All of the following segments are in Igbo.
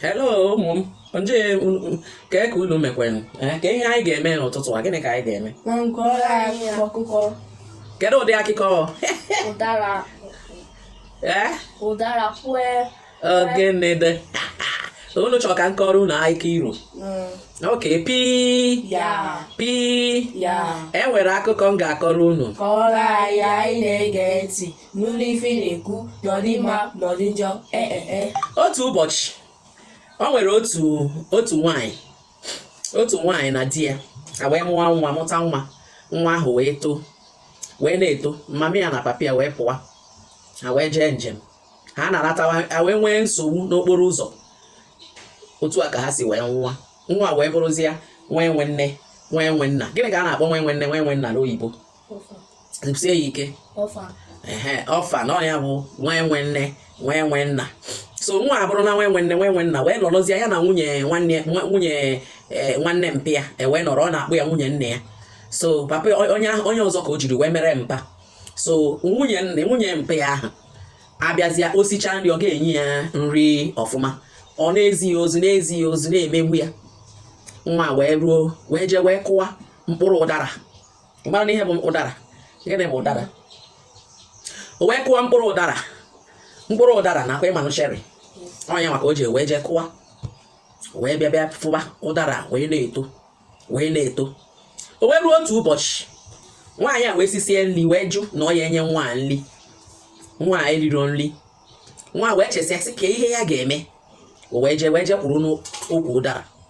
hello ụmụ m nje kee ka unu mekwenụ eh, kee ihe anyị ga-eme n'ụtụtụ a gịnị ka anyị ga-eme kedu ụdị akụkọ ụdara eh? ụdara kwue ọ gịnị dị unu chọrọ ka m kọọrọ unu akụkọ iro mm. ok pi pi e nwere akụkọ m ga-akọrọ unu n'ụlọ ife na-ekwu na ọ dị mma na ọ dị njọ ee e, e. otu ụbọchị o nwere otu otu nwanyị otu nwanyị na di ya wee mụwa nwa mụta nwa nwa ahụ wee too wee na-eto mama ya na papa ya wee pụwa ha wee jee njem ha na-alatawa ha wee nwee nsogbu n'okporo ụzọ otu a ka ha si wee nwụa nwa wee bụrụzie nwa enwe nne nwa enwe nna gịnị ka a na-akpọ nwa enwe nne nwa enwe nna n'oyibo sie ya ike orphan ọ nya bụ nwa enwe nne nwa enwe nna so nwa abụrụna nwa enwe nne nwa enwe nna wee nọrọzie ya na nwunye nwanne nwunye e, nwanne mpa ya wee nọrọ ọ na-akpọ ya nwunye nna ya so papa onye onye ọzọ ka o jiri wee mere mpa so nwunye nne nwunye mpa ya ahụ abịazịa o sicha nri ọ ga-enye ya nri ọfụma ọ na-ezi ya ozi na-ezi ya ozi na-emegbu ya nwa wee ruo wee jee wee kụwa mkpụrụ ụdara ị marana ihe bụ ụdara gịnị bụ ụdara o wee kụwa mkpụrụ ụdara mkpụrụ ụdara ọkwa ị manụ cherry ọ nya maka o ji wee jee kụwa wee bịa bịa fuba ụdara wee na-eto wee na-eto o wee ruo otu ụbọchị nwaanyị a wee sisie nri wee jụ na ọ ya enye nwa nri nwa eriro nri nwa wee chesịa sị kee ihe ya ga-eme o wee jee wee jee kwụrụ n'ukwu ụdara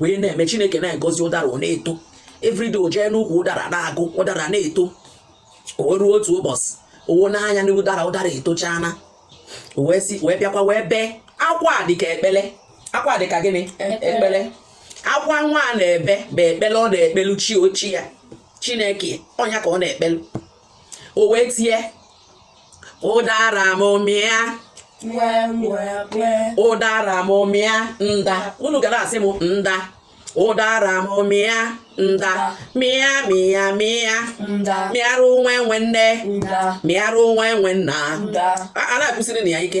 wee na-eme chineke na-egozi ụdara ọ na-eto everyday o jee n'ukwu ụdara na-agụ ụdara na-eto o ruo otu ụbọchị o wo nya anya na ụdara ụdara etochana wee si wee bịakwa wee bee akwa dịka ekpele akwa dịka gịnị e, ekpele akwa nwa a na-ebe bụ ekpele ọ na-ekpelu chi ochie ya chineke ọ nya ka ọ na-ekpelu o wee tie ụdara m mịa ụdara m mịa nda unu ga na-asị m nda ụdara m mịa nda mịa mịa mịa mịarụ nwa enwe nne mịarụ nwa enwe nna a na-akụsiri na ya ike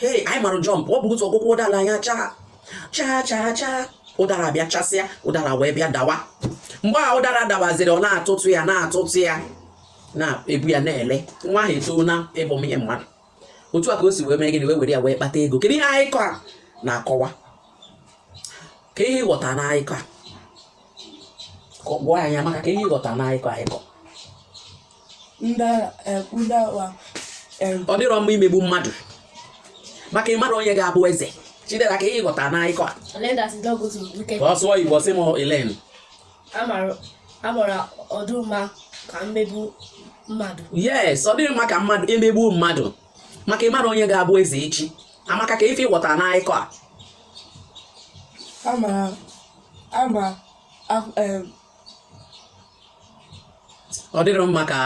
hei anyị mara jump ọ bụ otu ọ gụkwuo ụdara nya chaa chaa chaa chaa ụdara bịa chasịa ụdara wee bịa dawa mgbe a ụdara dawaziri ọ na-atụtụ ya na-atụtụ ya na-ebu ya na-ele nwa ahụ etoona ịbụ ihe mmadụ otu a ka o si wee mee gịnị wee were ya wee kpata ego kedu ihe akụkọ a na-akọwa kee ihe ị ghọta n'akụkọ a gwa anyị maka kee ihe ị ghọta n'akụkọ akụkọ ọ dịrọ mma imegbu mmadụ maka ị marọ onye ga-abụ eze chidera ka ị ghọta na akụkọ a sụọ igbo sị m ilen amara ọ dị mma ka mmegbu mmadụ yes ọ dịghị mma ka mmadụ emegbu mmadụ maka ị marọ onye ga-abụ eze echi amaka kee ife ị ghọta na akụkọ a ama ama ọ dịghị mma ka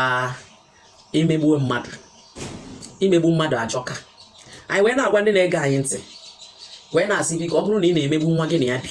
emegbuo mmadụ imegbu mmadụ ajọka anyị wee na-agwa ndị na-ege anyị ntị wee na-asị biko ọ bụrụ na ị na-emegbu nwa gị na ya bi